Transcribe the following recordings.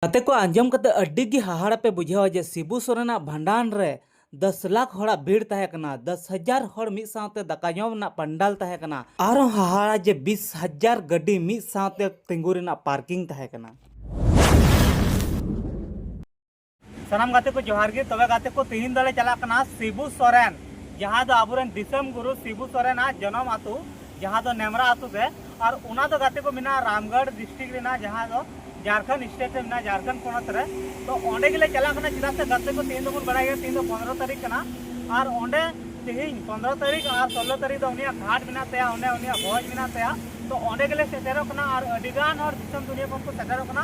ᱜᱟᱛᱮ ᱠᱚ ᱟᱸᱡᱚᱢ ᱠᱟᱛᱮ ᱟᱹᱰᱤ ᱜᱮ ᱦᱟᱦᱟᱲᱟ ᱯᱮ ᱵᱩᱡᱷᱟᱹᱣᱟ ᱡᱮ ᱥᱤᱵᱩ ᱥᱚᱨᱮᱱᱟᱜ ᱵᱷᱟᱸᱰᱟᱱ ᱨᱮ ᱫᱚᱥ ᱞᱟᱠᱷ ᱦᱚᱲᱟᱜ ᱵᱷᱤᱲ ᱛᱟᱦᱮᱸ ᱠᱟᱱᱟ᱾ ᱫᱚᱥ ᱦᱟᱡᱟᱨ ᱦᱚᱲ ᱢᱤᱫ ᱥᱟᱶᱛᱮ ᱫᱟᱠᱟ ᱡᱚᱢ ᱨᱮᱱᱟᱜ ᱯᱟᱱᱰᱟᱞ ᱛᱟᱦᱮᱸ ᱠᱟᱱᱟ᱾ ᱟᱨᱦᱚᱸ ᱦᱟᱦᱟᱲᱟ ᱡᱮ ᱵᱤᱥ ᱦᱟᱡᱟᱨ ᱜᱟᱹᱰᱤ ᱢᱤᱫ ᱥᱟᱶᱛᱮ ᱛᱤᱸᱜᱩ ᱨᱮᱱᱟᱜ ᱯᱟᱨᱠᱤᱝ ᱛᱟᱦᱮᱸ ᱠᱟᱱᱟ᱾ ᱥᱟᱱᱟᱢ ᱜᱟᱛᱮ ᱠᱚ ᱡᱚᱦᱟᱨ ᱜᱮ᱾ ᱛᱚᱵᱮ ᱜᱟᱛᱮ ᱠᱚ ᱛᱤᱦᱤᱧ ᱫᱚᱞᱮ ᱪᱟᱞᱟᱜ ᱠᱟᱱᱟ ᱥᱤᱵᱩ ᱥᱚᱨᱮᱱ ᱡᱟᱦᱟᱸ ᱫᱚ ᱟᱵᱚ ᱨᱮᱱ ᱫᱤᱥᱚᱢ ᱜᱩᱨᱩ ᱥᱤᱵᱩ ᱥᱚᱨᱮᱱᱟᱜ ᱡᱚᱱᱚᱢ ᱟᱹᱛᱩ ᱡᱟᱦᱟᱸ ᱫᱚ ᱱᱮᱢᱨᱟ ᱟᱛᱳ ᱜᱮ ᱟᱨ ᱚᱱᱟ ᱫᱚ ᱜᱟᱛᱮ ᱠᱚ ᱢᱮᱱᱟᱜᱼᱟ ᱨᱟᱢᱜᱚᱲ ᱰᱤᱥᱴᱨᱤᱠᱴ ᱨᱮᱱᱟᱜ ᱡᱟᱦᱟᱸ ᱫᱚ ᱡᱷᱟᱲᱠᱷᱚᱸᱰ ᱥᱴᱮᱴ ᱨᱮ ᱢᱮᱱᱟᱜᱼᱟ ᱡᱷᱟᱲᱠᱷᱚᱸᱰ ᱯᱚᱱᱚᱛ ᱨᱮ ᱛᱚ ᱚᱸᱰᱮ ᱜᱮᱞᱮ ᱪᱟᱞᱟᱜ ᱠᱟᱱᱟ ᱪᱮᱫᱟᱜ ᱥᱮ ᱜᱟᱛᱮ ᱠᱚ ᱛᱮᱦᱮᱧ ᱫᱚᱵᱚᱱ ᱵᱟᱲᱟᱭ ᱜᱮᱭᱟ ᱛᱮᱦᱮᱧ ᱫᱚ ᱯᱚᱱᱨᱚ ᱛᱟᱹᱨᱤᱠᱷ ᱠᱟᱱᱟ ᱟᱨ ᱚᱸᱰᱮ ᱛᱮᱦᱮᱧ ᱯᱚᱱᱨᱚ ᱛᱟᱹᱨᱤᱠᱷ ᱟᱨ ᱥᱳᱞᱞᱳ ᱛᱟᱹᱨᱤᱠᱷ ᱫᱚ ᱩᱱᱤᱭᱟᱜ ᱜᱷᱟᱴ ᱢᱮᱱᱟᱜ ᱛᱟᱭᱟ ᱚᱸᱰᱮ ᱩᱱᱤᱭᱟᱜ ᱵᱷᱚᱡᱽ ᱢᱮᱱᱟᱜ ᱛᱟᱭᱟ ᱛᱚ ᱚᱸᱰᱮ ᱜᱮᱞᱮ ᱥᱮᱴᱮᱨᱚᱜ ᱠᱟᱱᱟ ᱟᱨ ᱟᱹᱰᱤᱜᱟᱱ ᱦᱚᱲ ᱫᱤᱥᱚᱢ ᱫᱩᱱᱤᱭᱟᱹ ᱠᱷᱚᱱ ᱠᱚ ᱥᱮᱴᱮᱨᱚᱜ ᱠᱟᱱᱟ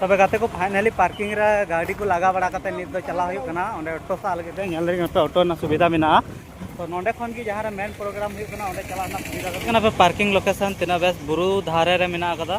ᱛᱚᱵᱮ ᱜᱟᱛᱮ ᱠᱚ ᱯᱷᱟᱭᱱᱟᱞᱤ ᱯᱟᱨᱠᱤᱝ ᱨᱮ ᱜᱟᱹᱰᱤ ᱠᱚ ᱞᱟᱜᱟ ᱵᱟᱲᱟ ᱠᱟᱛᱮ ᱱᱤᱛ ᱫᱚ ᱪᱟᱞᱟᱣ ᱦᱩᱭᱩᱜ ᱠᱟᱱᱟ ᱚᱸᱰᱮ ᱚᱴᱳ ᱥᱟᱵ ᱞᱟᱹᱜᱤᱫ ᱛᱮ ᱧᱮᱞ ᱫᱟᱹᱧ ᱚᱴᱳ ᱚᱴᱳ ᱨᱮᱱᱟᱜ ᱥᱩᱵᱤᱫᱷᱟ ᱢᱮᱱᱟᱜᱼᱟ ᱛᱚ ᱱᱚᱸᱰᱮ ᱠᱷᱚᱱ ᱜᱮ ᱡᱟᱦᱟᱸ ᱨᱮ ᱢᱮᱱ ᱯᱨᱳᱜᱨᱟᱢ ᱦᱩᱭᱩᱜ ᱠᱟᱱᱟ ᱚᱸᱰᱮ ᱪᱟᱞᱟᱜ ᱨᱮᱱᱟᱜ ᱥᱩᱵᱤᱫᱷᱟ ᱦᱩᱭᱩᱜ ᱠᱟᱱᱟ ᱯᱟᱨᱠᱤᱝ ᱞᱳᱠᱮᱥᱚᱱ ᱛᱤᱱᱟᱹᱜ ᱵᱮᱥ ᱵᱩᱨᱩ ᱫᱷᱟᱨᱮ ᱨᱮ ᱢᱮᱱᱟᱜ ᱟᱠᱟᱫᱟ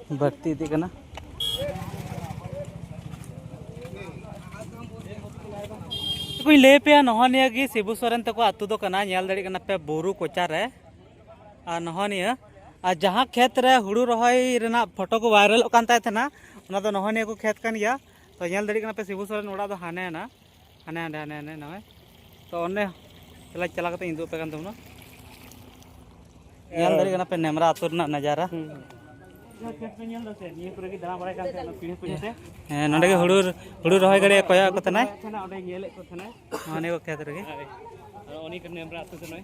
ᱵᱟᱹᱲᱛᱤ ᱤᱫᱤᱜ ᱠᱟᱱᱟ ᱠᱚᱧ ᱞᱟᱹᱭ ᱯᱮᱭᱟ ᱱᱚᱜᱼᱚ ᱱᱤᱭᱟᱹ ᱜᱮ ᱥᱤᱵᱩ ᱥᱚᱨᱮᱱ ᱛᱟᱠᱚ ᱟᱛᱳ ᱫᱚ ᱠᱟᱱᱟ ᱧᱮᱞ ᱫᱟᱲᱮᱭᱟᱜ ᱠᱟᱱᱟ ᱯᱮ ᱵᱩᱨᱩ ᱠᱚᱪᱟ ᱨᱮ ᱟᱨ ᱱᱚᱜᱼᱚ ᱱᱤᱭᱟᱹ ᱟᱨ ᱡᱟᱦᱟᱸ ᱠᱷᱮᱛ ᱨᱮ ᱦᱩᱲᱩ ᱨᱚᱦᱚᱭ ᱨᱮᱱᱟᱜ ᱯᱷᱳᱴᱳ ᱠᱚ ᱵᱷᱟᱭᱨᱟᱞᱚᱜ ᱠᱟᱱ ᱛᱟᱦᱮᱸ ᱠᱟᱱᱟ ᱚᱱᱟ ᱫᱚ ᱱᱚᱜᱼᱚ ᱱᱤᱭᱟᱹ ᱠᱚ ᱠᱷᱮᱛ ᱠᱟᱱ ᱜᱮᱭᱟ ᱛᱚ ᱧᱮᱞ ᱫᱟᱲᱮᱭᱟᱜ ᱠᱟᱱᱟ ᱯᱮ ᱥᱤᱵᱩ ᱥᱚᱨᱮᱱ ᱚᱲᱟᱜ ᱫᱚ ᱦᱟᱱᱮ ᱱᱟ ᱦᱟᱱᱮ ᱦᱟᱸᱰᱮ ᱦᱟᱱᱮ ᱦᱟᱸᱰᱮ ᱱᱚᱜᱼᱚᱭ ᱛᱚ ᱚᱸᱰᱮ ᱛᱟᱦᱚᱞᱮ ᱪᱟᱞᱟᱣ ᱠᱟᱛᱮ ᱤᱧ ᱩᱫᱩᱜ ᱟᱯᱮ ᱠᱟᱱ ᱛᱟᱵᱚᱱᱟ ᱧᱮᱞ ᱫᱟᱲᱮᱭᱟᱜ ᱠᱟᱱᱟ ᱯᱮ ᱱᱮᱢᱨᱟ ᱟᱹᱛᱩ ᱨᱮᱱᱟᱜ ᱱᱟᱡᱟᱨᱟ ᱦᱮᱸ ᱱᱚᱸᱰᱮ ᱜᱮ ᱦᱩᱲᱩ ᱦᱩᱲᱩ ᱨᱚᱦᱚᱭ ᱜᱟᱹᱲᱤ ᱠᱚᱭᱚᱜ ᱠᱚ ᱛᱟᱦᱮᱱᱟᱭ ᱚᱸᱰᱮ ᱧᱮᱞᱮᱫ ᱠᱚ ᱛᱟᱦᱮᱱᱟᱭ ᱚᱱᱮ ᱠᱚ ᱠᱷᱮᱛ ᱨᱮᱜᱮ ᱩᱱᱤ ᱱᱮᱢᱨᱟ ᱟᱹᱛᱩ ᱠᱟᱱᱟᱭ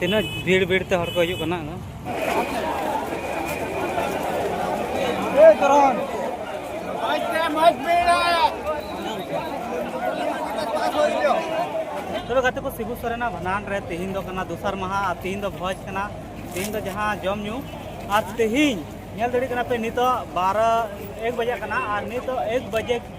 ᱛᱤᱱᱟᱹᱜ ᱵᱷᱤᱲ ᱵᱷᱤᱲ ᱛᱮ ᱦᱚᱲ ᱠᱚ ᱦᱤᱡᱩᱜ ᱠᱟᱱᱟ ᱛᱚᱵᱮ ᱜᱟᱛᱮ ᱠᱚ ᱥᱤᱵᱩ ᱥᱚᱨᱮᱱᱟᱜ ᱵᱷᱟᱱᱟᱱ ᱨᱮ ᱛᱮᱦᱮᱧ ᱫᱚ ᱠᱟᱱᱟ ᱫᱚᱥᱟᱨ ᱢᱟᱦᱟ ᱟᱨ ᱛᱮᱦᱮᱧ ᱫᱚ ᱵᱷᱚᱡᱽ ᱠᱟᱱᱟ ᱛᱮᱦᱮᱧ ᱫᱚ ᱡᱟᱦᱟᱸ ᱡᱚᱢ ᱧᱩ ᱟᱨ ᱛᱮᱦᱮᱧ ᱧᱮᱞ ᱫᱟᱲᱮᱭᱟᱜ ᱠᱟᱱᱟ ᱯᱮ ᱱᱤᱛᱚᱜ ᱵᱟᱨᱚ ᱮᱠ ᱵᱟᱡᱟᱜ ᱠᱟᱱᱟ ᱟᱨ ᱱᱤᱛᱚᱜ ᱮᱠ ᱵᱟᱡᱮ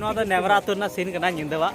ᱱᱚᱣᱟ ᱫᱚ ᱱᱮᱵᱨᱟ ᱟᱹᱛᱩ ᱨᱮᱱᱟᱜ ᱥᱤᱱ ᱠᱟᱱᱟ ᱧᱤᱫᱟᱹᱣᱟᱜ